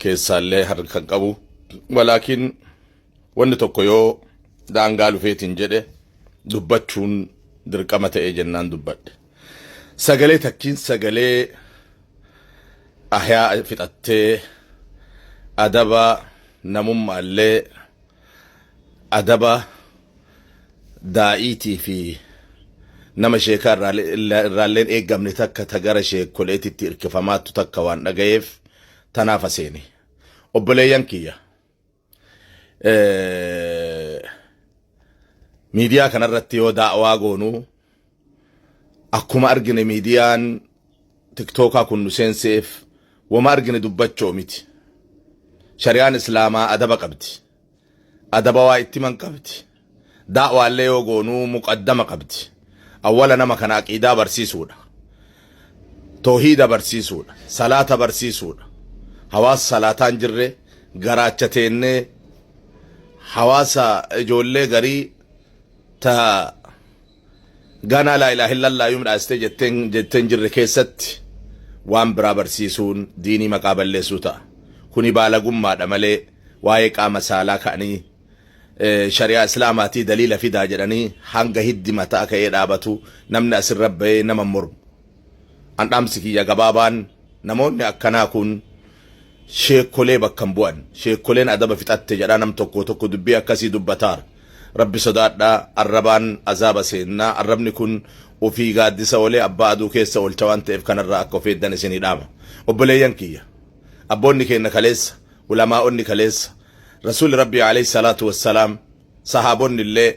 keessaallee harkan qabu walaakiin wanni tokko yoo daangaa lufeetiin jedhe dubbachuun dirqama ta'ee jennaan dubbadhe sagalee takkiin sagalee ahyaa fixattee adaba namummaallee adaba daa'iitii fi nama sheekaa irraalleen eeggamne takka ta gara sheekoleetitti irkifamaattu takka waan dhagayeef tanaafa seene. Obboleeyyan kiyya miidiyaa kanarratti yoo daawaa goonuu Akkuma argine miidiyaan tiktookaa kun nu seenseef wama argine dubbachoo miti. Shari'aan Islaamaa adaba qabdi. Adaba waa itti man qabdi. Daawaallee yoo goonuu muqaddama qabdi. Awwala nama kana aqiidaa barsiisuudha. Toohiida barsiisuudha. Salaata barsiisuudha. Hawaasa salaataan jirre garaacha teennee hawaasa ijoollee garii ta ganaa laa ilaaha illallaa yoom dhaastee jetteen jettee hin jirre keessatti waan biraa barsiisuun diinii maqaa balleessuu ta'a. Kuni baalagummaadha malee waa'ee qaama saalaa ka'anii eh, shari'aa islaamaatii daliila fidaa jedhanii hanga hiddi mataa ka'ee dhaabatu namni asirra bahee nama hin mormu. An dhaamsi kiyya gabaabaan namoonni akkanaa kun sheekkolee bakka hin bu'an. Sheekkoleen adaba fixatte jedhaa nam tokko tokko dubbii akkasii dubbataar. Rabbi sodaadhaa arrabaan azaaba seennaa arrabni kun ofii gaaddisa oolee abbaa aduu keessa oolcha waan ta'eef kanarraa akka of eeddan isinii dhaama. Obboleeyyan kiyya! Abboonni keenna kaleessa, ulamaa'onni kaleessa, Rasuulli Rabbii aleyh salaatu wassalaam, sahaabonnillee,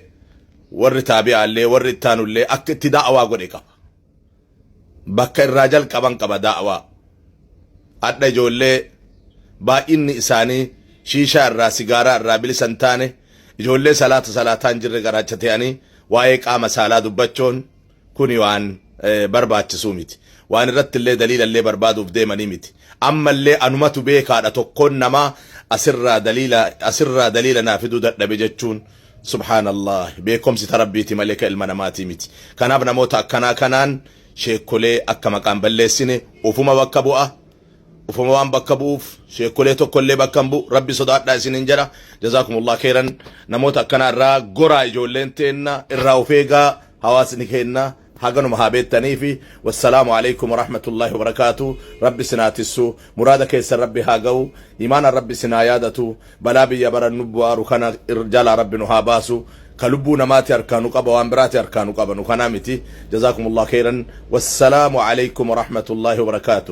warri taabi'aallee, warri ittaanullee akka itti da'awaa godhe qaba. bakka irraa jalqaban qaba daawaa adha ijoollee baay'inni isaanii shiishaa irraa sigaaraa irraa bilisa hin taane ijoollee salaata salaataa hin jirre garaacha ta'anii waa'ee qaama saalaa dubbachuun kuni waan barbaachisuu miti waan irratti illee daliila illee barbaaduuf deemanii miti amma illee anumatu beekaadha tokkoon namaa asirraa daliila asirraa daliila naa fiduu dadhabe jechuun Subhaan Allaah beekomsi ta Rabbiiti malee ka ilma namaatii miti. Kanaaf namoota akkanaa kanaan sheekkolee akka maqaa hin balleessine ufuma bakka bu'a. Ufuma waan bakka bu'uuf sheekkolee tokkollee bakka hin bu'u. Rabbi sodaadhaa isiniin jedha. Jazaakumullah kheyran. Namoota akkanaa irraa goraa ijoolleen teenna irraa of eegaa hawaasni keenna. haganuma haa beettaniifi wassalaamu aleykum warahmatullaahi wabarakaatu rabbi isin haa tissu muraada keessan rabbi haa gahu imaanaan rabbi isin haa yaadatu balaa biyya bara nu bu'aaru kana jalaa rabbi nu haa baasu ka lubbuu namaati harkaa nu qaba waan biraati harkaa nu qabanu kanaa miti jazaakumullah keyran wassalaamu aleykum warahmatullaahi wabarakaatu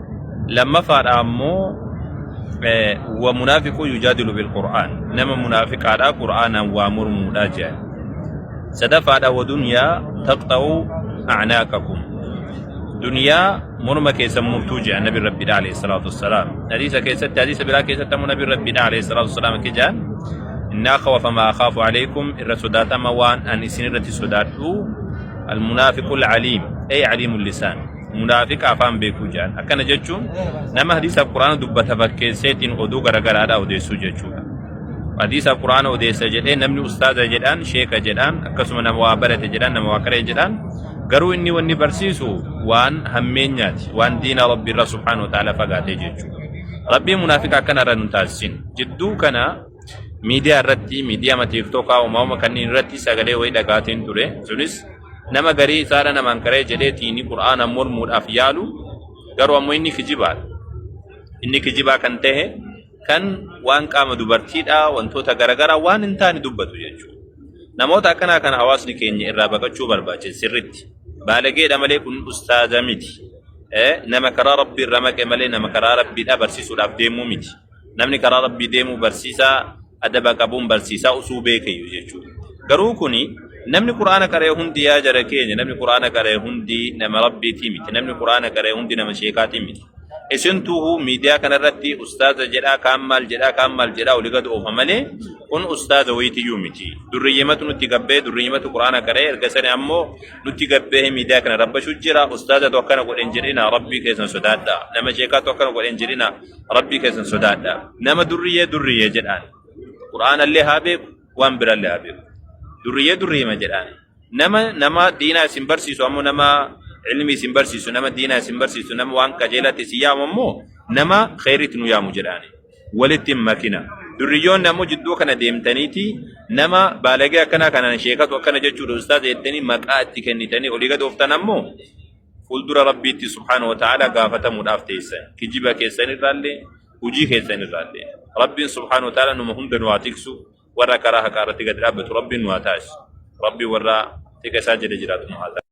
lammafaadha ammoo wa munaafiquu yujaadilu bil qur'aan nama munaafiqaadha qur'aanaan waa mormuudha jedhan sadafaadha wa dunyaa taqxa'u acnaaqakum dunyaa morma keessan murtuu jedhan nabi rabbiidha alayhi salaatu wassalaam hadiisa keessatti hadiisa biraa keessatti ammoo nabi rabbiidha alayhi salaatu wassalaam akka jedhan innaa khawafa maa akhaafu alaykum irra sodaatama waan an isin irratti sodaadhu almunaafiqu alcaliim ay caliimu lisaan Munaafiqa afaan beekuu jedhan. Akkana jechuun nama hadiisa Quraana dubbata fakkeesseetiin oduu garagaraadhaa odeessuu jechuudha. Hadiisa Quraana odeessa jedhee namni ustaaza jedhaan, sheeka jedhaan, akkasuma nama waa barate jedhaan, nama waa qaree jedhaan. Garuu inni wanni barsiisu waan hammeenyaati, waan diina Rabbi irra subhaanahu wa ta'ala fagaatee jechuudha. Rabbiin munaafiqa akkana irra nu taasisin. Jidduu kana miidiyaa irratti miidiyaama tiiktookaa uumama kanneen irratti sagalee wayii dhagaateen ture sunis nama garii isaadha namaan qaree jedhee tiini qur'aanaan mormuudhaaf yaalu garuu ammoo inni kijibaadha inni kijibaa kan ta'e kan waan qaama dubartiidha wantoota garagaraa waan hin taane dubbatu jechuudha namoota akkanaa kana hawaasni keenya irraa baqachuu barbaachisa sirritti baalageedha malee kun ustaaza miti nama karaa rabbii irra maqe malee nama karaa rabbiidha barsiisuudhaaf deemuu miti namni karaa rabbii deemuu barsiisaa adaba qabuun barsiisaa usuu beekayyu jechuudha garuu kuni namni qur'aana qara'e hundi yaa jara keenya namni qur'aana qara'e hundi nama rabbiitii miti namni qur'aana qara'e hundi nama sheekaatii miti isintuuhu miidiyaa kanarratti ustaaza jedhaa kaan maal jedhaa kaan maal jedhaa oli gad oofa malee kun ustaaza wayitiyyuu miti durriyyimatu nutti gabbee durriyyimatu qur'aana qara'e erga sani ammoo nutti gabbee miidiyaa kana rabbashu jira ustaaza tokkana godhen jedhina rabbii keessan sodaadha nama sheekaatu akkana godhen jedhina Rabbii keessan sodaadha. Nama durriyyee durriyyee jedhaan. Qur'aanallee haa beeku, waan birallee haa beeku. Durriyyee durriyyema jedhaan. Nama nama diinaa isin barsiisu ammoo nama ilmi isin barsiisu, nama diinaa isin barsiisu, nama waan qajeelatti isin yaamu ammoo nama kheyritti nu yaamu jedhaan. Walitti hin makina. Durriyyoonni ammoo jidduu kana deemtaniiti nama baalagee akkanaa kanaan sheekatu akkana jechuudha ustaaza jettanii maqaa itti kennitanii olii gad ooftan ammoo fuuldura rabbiitti subhaanahu wa ta'aalaa gaafatamuudhaaf teessan kijiba keessan irraallee hujii keessan irraallee rabbiin subhaanahu wa ta'aalaa numa hunda nu haa tiksu warra karaa haqaa irratti gad dhaabbatu rabbiin nu haa taasisu rabbii warra tika isaa jala jiraatu nu haa taasisu